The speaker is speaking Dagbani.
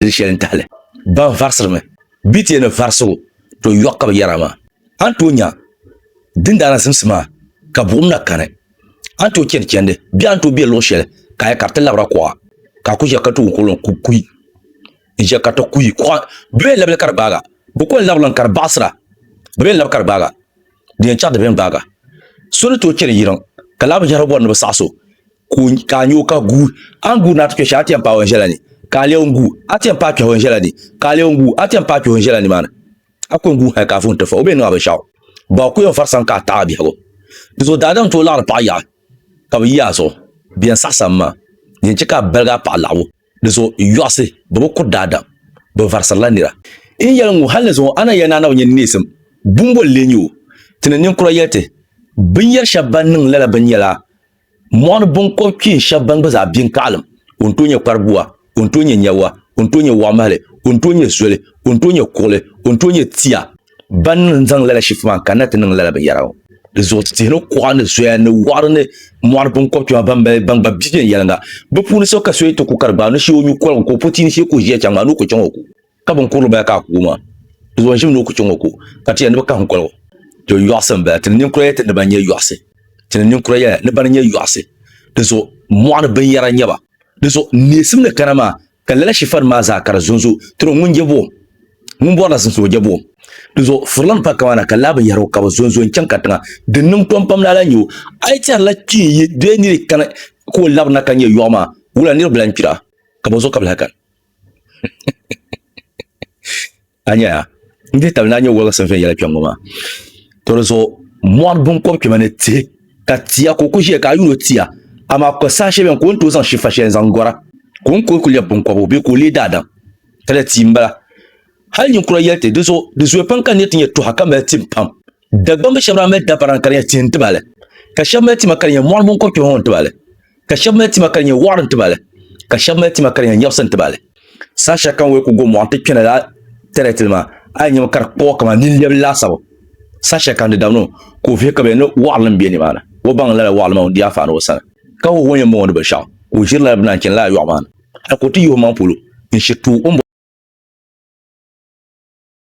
di shɛli n-tahi li. Ban varisirimi bi ti yɛn ni varisi o, to yɔɣu ka bɛ yɛra maa. A ni tooi nya dindaana zimsi maa ka buɣim na kani. A ni tooi chani chandi bee a ni tooi be luɣ shɛli ka a nya ka di ti labira kuɣa, ka a ku ʒiya ka ti wum ka o lan ku kuyi. N ʒiya ka ti kuyi. Kuɣa bɛ be labili ka di gbaaga. Bɛ ku lan labiri li ka di baɣisira. Bɛ be ni labi ka di gbaaga, di yɛn chaɣ di be ni gbaaga. So ni tooi chani yiriŋ ka laa binshɛhira bɔri ni bɛ saɣis o, ka a nyo ka gu a ni guuri na ti kpɛ shɛli a ti yɛn paai o ni ʒɛla ni ka a lebi n gu a ti yɛn paai kpɛhi o ni ʒɛla ni ka a lebi n gu a ti yɛn paai kpɛhi o ni ʒɛla nimaani a ku yɛn gu hali ka a vuhi nti fai o bee niŋ a binshɛɣu bɔ a ku yɛn fari sani ka a taɣi a biɛhigu di zuɣu daadam n tooi laɣiri paɣa yaɣa ka bi yi a zuɣu bɛ yɛn saɣisami maa di yɛn chɛ ka a baligi a paɣa laɣibu di zuɣu yɔɣusi bɛ bi kuri daadam bɛ varisirila nira n yɛli ŋɔ hali ni zuŋɔ a na yɛli ni a na bi nya ni neesim bumbol n-lee nyɛ o ti ni ninkura yɛli ti binyɛr shɛb bɛn niŋ lala binyɛla Mɔɣini binkɔb kpeen shɛb ban gba zaa bɛ n-kaɣilim, o ni tooi nyɛ kparibua, o ni tooi nyɛ nyɛwa, o ni tooi nyɛ wɔɣimahili, o ni tooi nyɛ zoli, o ni tooi nyɛ kuɣili, o ni tooi nyɛ tia. Ban niŋ n-zaŋ lala shifu maa n-kanna ti niŋ lala binyɛra ŋɔ. Di zuɣu tihi ni kuɣa ni zoya ni wɔɣiri ni mɔɣini binkɔb kpɛma ban mali ban gba bi viɛnyɛliŋga. Bɛ puuni so ka so yi ti ku ka di gbaai o ni shee o nyu koligu ka o po tia ni shee ka o ʒiya chaŋ maa ni o ku chaŋ o ku. ka bin kurili bala ka a ku o maa di zuɣu n ʒimi ni o ku chɛ ŋɔ ko ka ti yɛli ni bi kahim koligu to yɔɣusi n bala ti ni ninkura yɛli ti ni ba nyɛ yɔɣusi ti ni ninkura yɛla ni bani nyɛ yɔɣusi di zuɣu mɔɣuni binyɛra n nyɛba di zuɣu neesim ni kana maa ka lala shifani maa zaa ka di zonzo tiro ŋun je buɣum ŋun bɔrila zimsim o je buɣum di zuɣu furila ni pa kama na ka laa binyɛra o ka bi zonzo n chaŋ ka tiŋa din niŋ tom pam lala nyɛ o a yi tɛrila kpee yi dɔya ni di kana ka o labirina ka nyɛ yɔɣu maa wula niribila n kpira ka bi zuɣu ka bi lahi kani a nya n dihi tabili ni a nya wɔligisim viɛn yɛla kpɛŋŋɔ maa to di zuɣu mɔri binkɔb kpɛma ni tihi ka tia ka o ku ʒiya ka a yuuni o tia amaa kukoli saha shɛli bɛni ka o ni tooi zaŋ shifa shɛli n-zaŋ gɔra ka o ni kuli ku lɛbi binkɔbigu bee ka o leei daadam ka di tia m-bala hali ninkura yɛli ti di zuɣu di zooya pam ka n nya ti nyɛ tuha ka mali tim pam Dagbamb shɛb daa mali dabara ka di nyɛ tihi n-tibali, ka shɛb mali tima ka di nyɛ mɔri mini kɔchuɣu ŋɔ n-tibali, ka shɛb mali tima ka di nyɛ wɔɣiri n-tibali, ka shɛb mali tima ka di nyɛ nyɛbisi n-tibali. Saha shɛli ka n wei ku go mɔɣu nti kpɛna lala tɛrɛtili maa, a yi nyami ka di kpuɣi kaman nini lɛbili laasabu. Saha shɛli ka n di dabini o, ka o vihi ka bɛ ni wɔɣiri nim be nimaani. O baŋ lala wɔɣiri maa ŋun di anfaani o sani, ka ho ho yɛn bɔŋɔ ni binshɛɣu, ka o ʒiri lala bɛ ni a ni chani lala yɔɣu maa ni, hal ka o ti yi o maŋ polo n-shiri tuui o ni bɔri